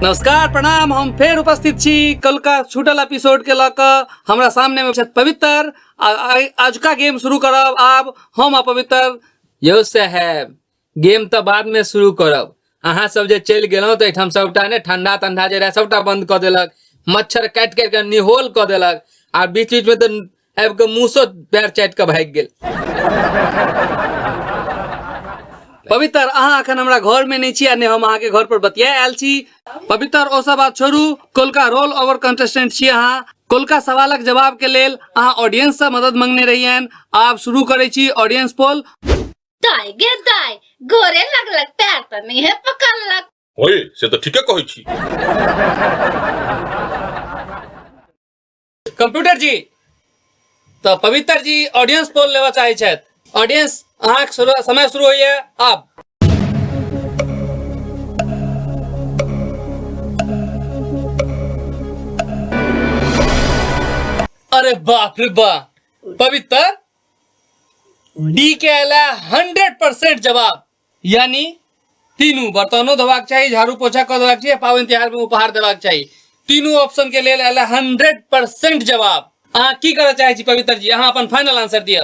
नमस्कार प्रणाम हम फेर उपस्थित छी कलका छूटल एपिसोड के लऽ कऽ हमरा सामने में छथि पवित्र आ- आ- आजुका गेम शुरू करब आब हम आ पवित्र यौ साहेब गेम तऽ बाद में शुरू करब अहाँ सब जे चलि गेलहुँ तऽ एहिठाम सबटा ने ठंडा तंडा जे रहै सबटा बंद कऽ देलक मच्छर काटि काटि कऽ निहोल कऽ देलक आ बीच बीच में तऽ आबि कऽ मूसो पैर चाटि कऽ भागि गेल पवित्र अहाँ अखन हमरा घर में नहीं छी आ ने हम अहाँ के घर पर बतिया आयल छी पवित्र ओ सब बात छोड़ू कोलका रोल ओवर कंटेस्टेंट छी अहाँ कोलका सवालक जवाब के लेल अहाँ ऑडियंस से मदद मंगने रहियन आब शुरू करै छी ऑडियंस पोल दाय गे दाय गोरे लगलक पैर त नहीं है पकड़लक ओए से तो ठीके कहै छी कंप्यूटर जी तऽ पवित्र जी ऑडियंस पोल लेबऽ चाहै छथि ऑडियंस अहाँक शुरू समय शुरू होइए आब अरे बाप रे बा पवित्र डी के अला हंड्रेड परसेंट जवाब यानी तीनू बर्तनो धोबाक चाहिए झाड़ू पोछा कर देबाक चाहिए पावन त्यौहार में उपहार देबाक चाहिए तीनू ऑप्शन के लिए अला हंड्रेड परसेंट जवाब अहाँ की करऽ चाहे छी पवित्र जी अहाँ अपन फाइनल आंसर दिअ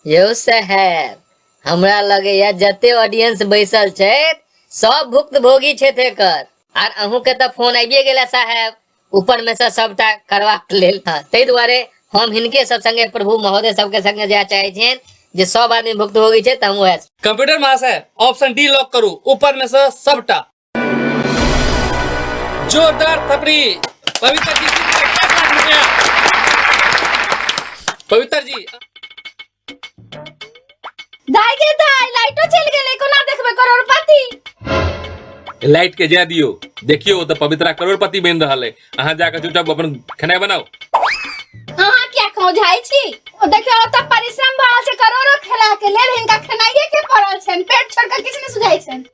यौ सहेब हमरा लगैया जते ऑडियंस बैसल छथि सब भुक्तभोगी छथि एकर आर अहूँ के तऽ फोन आबिए गेला साहेब ऊपर में से सबटा करबाक लेल हाँ, ताहि दुआरे हम हिनके सब संगे प्रभु महोदय सबके संगे जाय चाहे छियन जे सब आदमी भुक्तभोगी छै तऽ हम वएह छी। कंप्यूटर महाशय ऑप्शन डी लॉक करू ऊपर में से सबटा जोरदार थपड़ी पवित्र जी जीत गए पाँच लाख रुपया पवित्र जी दाई गे दाई लाइटो चल गेलै कोना देखबै करोड़पति लाइट के जा दियो देखियो ओ तऽ पवित्रा करोड़पति बनि रहल है अहाँ जाके चुपचाप अपन खेनाइ बनाओ अहाँ किया खौझाइ छी ओ देखियो ओतऽ परिश्रम भऽ रहल छै करोड़ो खेला के लेल हिनका खेनाइये के पड़ल छनि पेट छोड़ कऽ किछु नहि सुझाइ छनि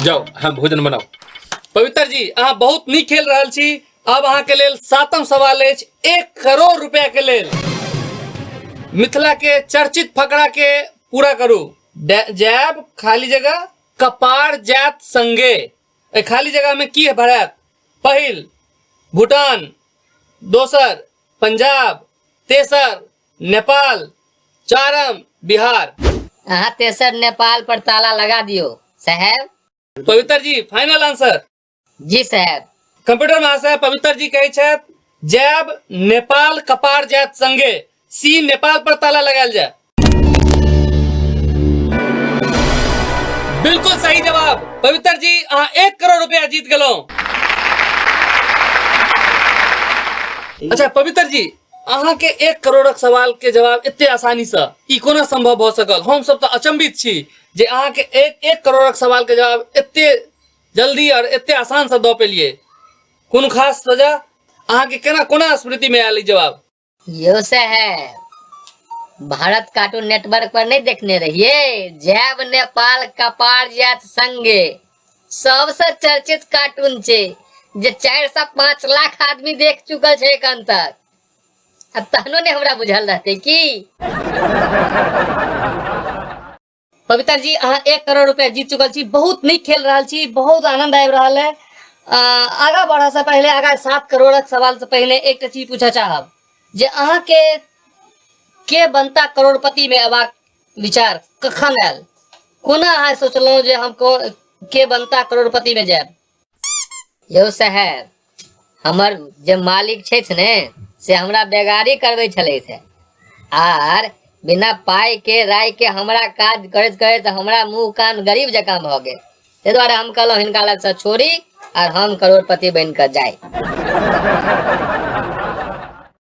जाओ अहाँ भोजन बनाओ पवित्र जी अहाँ बहुत नीक खेल रहल छी अब अहाँ के लेल सातम सवाल अछि एक करोड़ रुपया के लेल मिथिला के चर्चित फकरा के पूरा करू डै- जैब खाली जगह कपार जात संगे एहि खाली जगह में की भरत पहिल भूटान दोसर पंजाब तेसर नेपाल चारम बिहार अहाँ तेसर नेपाल पर ताला लगा दियो साहेब पवित्र जी फाइनल आंसर जी सर कंप्यूटर महाशय पवित्र जी कहे छथि जैब नेपाल कपार जायत संगे सी नेपाल पर ताला लगायल जाय बिल्कुल सही जवाब पवित्र जी अहाँ एक करोड़ रुपया जीत गेलहुं अच्छा पवित्र जी अहाँ के एक करोड़क सवाल के जवाब एते आसानी से ई कोना संभव भ सकल हम सब तो अचंभित छी जे अहाँ के एक एक करोड़क सवाल के जवाब एते जल्दी और एते आसान से द पेलिए कोनो खास सजा अहाँ के केना कोना स्मृति में आयल ई जवाब यो से है भारत कार्टून नेटवर्क पर नहीं देखने रहिए जैब नेपाल कपार जात संगे सबसे चर्चित कार्टून छे जे चार से पाँच लाख आदमी देख चुकल छे एखन तक आ तहनो ने हमरा बुझल रहते की पवित्र जी अहाँ एक करोड़ रुपया जीत चुकल छी बहुत नीक खेल रहल छी बहुत आनंद आबि रहल है आ, आगा बढ़ऽ से पहिले आगा सात करोड़क सवाल से पहिने एकटा चीज पूछऽ चाहब जे अहाँके के बनता करोड़पति में अयबाक विचार कखन आयल कोना अहाँ सोचलहुँ जे हम को- के बनता करोड़पति में जायब यौ साहेब हमर जे मालिक छथि ने से हमरा बेगारी करबै छलथि आर बिना पाई के राय के हमरा काज करैत करैत हमरा मुंह कान गरीब जकाँ भऽ गेल ताहि दुआरे हम कहलहुँ हिनका लग से छोड़ी आर हम करोड़पति बनि कऽ जाय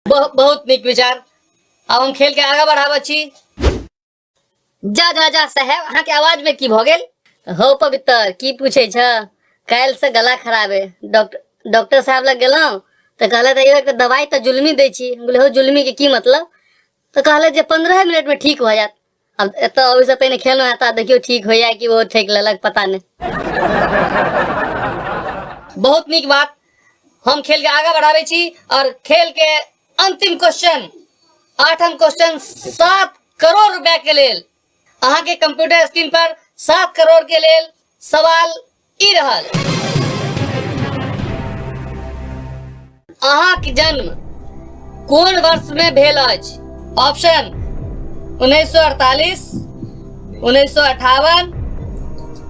बहुत बहुत नीक विचार आब हम खेल के आगा बढ़ाबऽ छी जा जा जा साहेब अहाँके आवाज में की भऽ गेल हो पवित्र की पूछे छ काल्हि से गला खराब है डॉक्टर डॉक्टर साहब लग गेलहुँ तऽ कहलथि "अइयो एकटा दवाइ तऽ जुलमी दै छी हम कहलियै हो जुलमी के की मतलब तऽ कहलथि जे पंद्रह मिनट में ठीक भऽ जायत अब एतऽ अबै से पहिने खेलहुँ हेँ तऽ आब देखियौ ठीक होइया कि ओ ठेक लेलक पता नहि बहुत नीक बात हम खेल के आगा बढ़ाबै छी और खेल के अंतिम क्वेश्चन आठम क्वेश्चन सात करोड़ रुपया के लेल अहाँ के कंप्यूटर स्क्रीन पर सात करोड़ के लेल सवाल ई रहल अहाँ के जन्म कोन वर्ष में भेल अछि ऑप्शन 1948 1958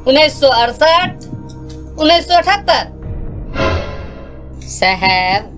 1968 1978 साहब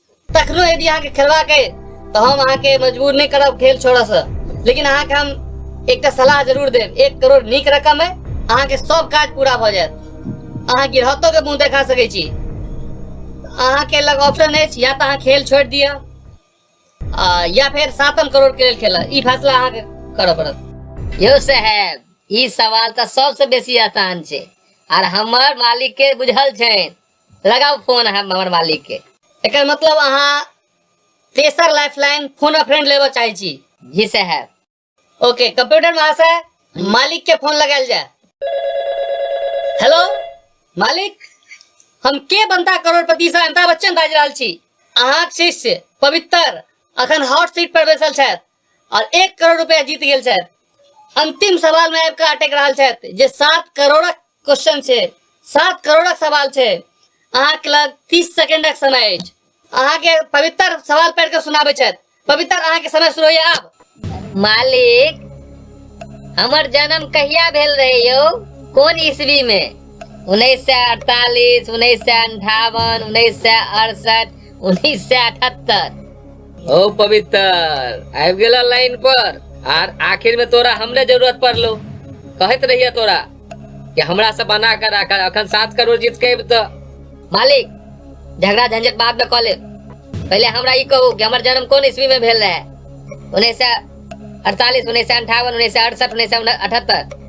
तखनो यदि अहाँके खेलबाक अइ तऽ हम अहाँके मजबूर नहि करब खेल छोड़ऽसँ लेकिन अहाँके हम एकटा सलाह जरूर देब एक करोड़ नीक रकम अइ अहाँके सब काज पूरा भऽ जायत अहाँ गिरहतोके मुँह देखा सकै छी अहाँके लग ऑप्शन अछि या तऽ अहाँ खेल छोड़ि दिअ आ, या फेर सातम करोड़ के लेल खेलऽ ई फैसला अहाँके करऽ पड़त यौ साहेब ई सवाल तऽ सबसँ बेसी आसान छै आर हमर मालिकके बुझल छनि लगाओ फोन अहाँ हमर मालिक के एकर मतलब अहाँ तेसर लाइफलाइन फोन अ फ्रेंड लेबऽ चाहै छी ही से है ओके कंप्यूटर महाशय मालिक के फोन लगायल जाए हेलो मालिक हम के बनता करोड़पति से अमिताभ बच्चन बाजि रहल छी अहाँक शिष्य पवित्र अखन हॉट सीट पर बैसल छथि और एक करोड़ रुपया जीत गए छथि अंतिम सवाल में आपका अटक रहा छथि जे सात करोड़ क्वेश्चन है सात करोड़ सवाल है अहाँके लग तीस सेकेंड समय अछि अहाँके पवित्र सवाल पढ़ के सुनाबे छथि पवित्र अहाँके समय शुरू होइए आब मालिक हमर जन्म कहिया भेल रहे यो कोन ईस्वी में उन्नीस सौ अड़तालीस उन्नीस सौ अंठावन उन्नीस सौ अड़सठ उन्नीस सौ अठहत्तर ओ पवित्र आबि गेला लाइन पर आर आखिर में तोरा हमरे जरूरत पड़लो कहत रहिए तोरा कि हमरा से बना कर राख अखन सात करोड़ जीत के अइब तऽ मालिक झगड़ा झंझट बाद में कॉले पहले हमरा ई कहू कि हमर जन्म कोन ईस्वी में भेल रहे उन्नैस सए अड़तालीस उन्नैस सए अंठावन उन्नैस सए अड़सठ उन्नैस सए अठहत्तर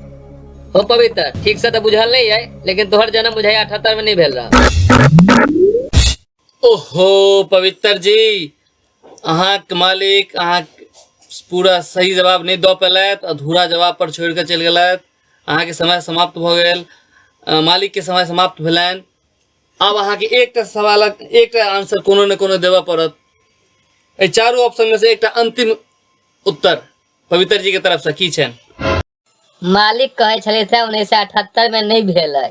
हो पवित्र ठीक से तो बुझल नहीं है लेकिन तोहर जन्म बुझाई अठहत्तर में नहीं भेल रहा ओहो पवित्र जी अहाँके मालिक अहाँ पूरा सही जवाब नहि दऽ पेलथि अधूरा जवाब पर छोड़ि कऽ चलि गेलथि अहाँके समय समाप्त भऽ गेल अ, मालिकके समय समाप्त भेलनि आब अहाँके एकटा सवालक एकटा आंसर कोनो ने कोनो देबऽ पड़त एहि चारू ऑप्शनमे से एकटा अन्तिम उत्तर पवित्र जीके तरफसँ की छनि मालिक कहै छलै से उन्नैस सए अठहत्तर में नहि भेल है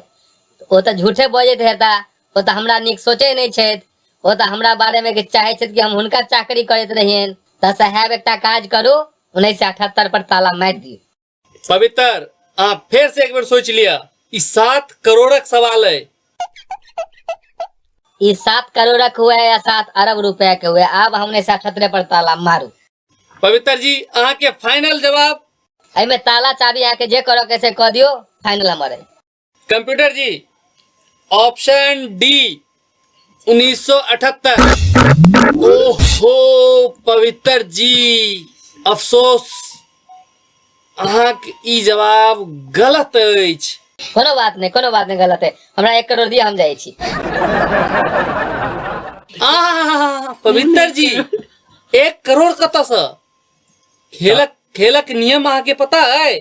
ओ तऽ झूठे बजैत हेता ओ तऽ हमरा नीक सोचै नहि छथि ओ तऽ हमरा बारे में चाहे छथि कि हम हुनका चाकरी करैत रहियन तऽ साहेब एकटा काज करू उन्नैस सए अठहत्तर पर ताला मारि दियौ पवित्र अहाँ फेर से एक बेर सोच लिया ई सात करोड़क सवाल है ई सात करोड़क हुए या सात अरब रुपया के हुए आब हम उन्नैस सए अठहत्तर पर ताला मारू पवित्र जी अहाँ के फाइनल जवाब एहिमे ताला चाबी अहाँके जे करऽ के से कऽ दियौ फाइनल हमर अइ कंप्यूटर जी ऑप्शन डी 1978 ओहो पवित्र जी अफसोस अहाँके ई जवाब गलत अछि कोनो बात नहीं कोनो बात नहीं गलत है हमरा एक करोड़ दिया हम जाए छी आह पवित्र जी एक करोड़ कतऽ से खेलक खेलक नियम अहाँके पता है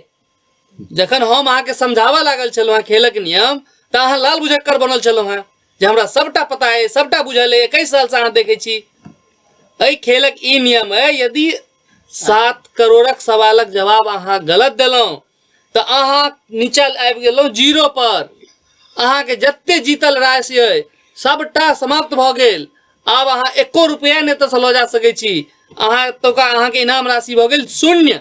जखन हम अहाँके समझावा लागल छलहुँ हेँ खेलक नियम तऽ अहाँ लाल बुझक्कर बनल छलहुँ हेँ जे हमरा सबटा पता है सबटा बुझल है एकैस सालसँ अहाँ देखै छी एहि खेलक ई नियम है यदि सात करोड़क सवालक जवाब अहाँ गलत देलहुँ तऽ अहाँ निचल आबि गेलहुँ जीरो पर अहाँके जते जीतल राशि अइ सभटा समाप्त भऽ गेल आब अहाँ एको रुपैआ नहि एतऽसँ लऽ जा सकै छी अहाँ एतुका अहाँके इनाम राशि भऽ गेल शून्य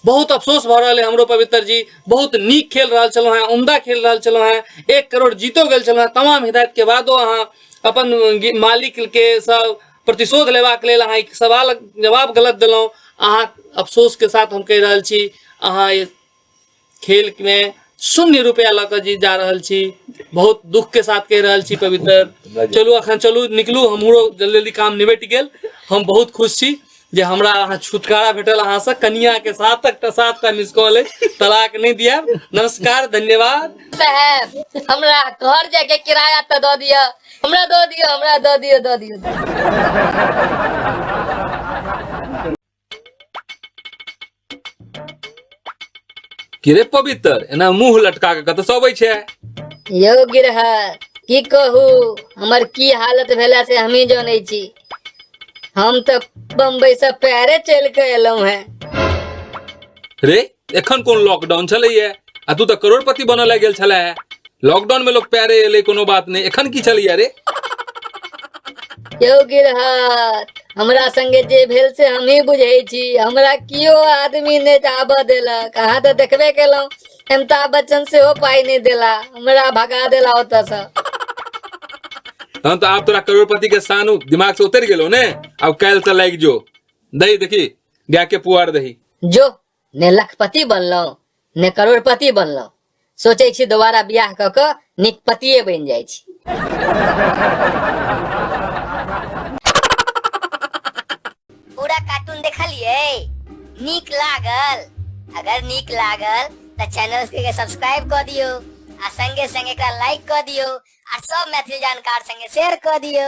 बहुत अफसोस भऽ रहल है हमरो पवित्र जी बहुत नीक खेल रहल छलहुँ हैं उम्दा खेल रहल छलहुँ हैं एक करोड़ जीतो गेल छलहुँ हैं तमाम हिदायत के बादो अहाँ अपन गे- मालिक के सब प्रतिशोध लेबाक लेल अहाँ ई सवाल जवाब गलत देलहुँ अहाँ अफसोस के साथ हम कहि रहल छी अहाँ ई खेल मे शून्य रुपया लऽ कऽ जी जा रहल छी बहुत दुख के साथ कहि रहल छी पवित्र चलू अखन चलू निकलू हमरो जल्दी जल्दी काम निबटि गेल हम बहुत खुश छी जे हमरा अहाँ छुटकारा भेटल अहाँ से कनिया के साथ एकटा साथ का मिस कॉल अछि तलाक नहि दिया नमस्कार धन्यवाद साहब हमरा घर जाए के किराया तो दऽ दिय हमरा दऽ दिय हमरा दऽ दिय दऽ दिय की रे पवित्र एना मुंह लटका के कतऽ से अबै छै यौ गिरहर की कहू हमर की हालत भेला से हमही जानै छी हम तऽ बम्बई से पैरे चलि के एलहुं हैं रे एखन कोन लॉकडाउन छलैए आ तू तऽ करोड़पति बनऽ लए गेल छले हे लॉकडाउन में लोग पैरे एलै कोनो बात नहीं एखन की छलैए रे यौ गिरहत हमरा संगे जे भेल से हमही बुझै छी हमरा कियो आदमी नहि आबऽ देलक अहाँ तऽ देखबे केलहुँ अमिताभ बच्चन सेहो पाइ नहि देला हमरा भगा देला ओतऽसँ हम तऽ आब तोरा करोड़पति के सानू दिमाग से उतरि गेलो ने आब काल्हि से लागि जो दही देखी गाय के पुआर दही जो ने लखपति बनलहुँ ने करोड़पति बनलहुँ सोचै छी दोबारा बियाह कऽ कऽ नीक पतिए बनि जाइ छी पूरा कार्टून देखलिए नीक लागल अगर नीक लागल तऽ चैनल के सब्सक्राइब कऽ दियो आ संगे संगे एकरा लाइक कऽ दियो आ सब मैथिली जानकार संगे शेयर कऽ दियो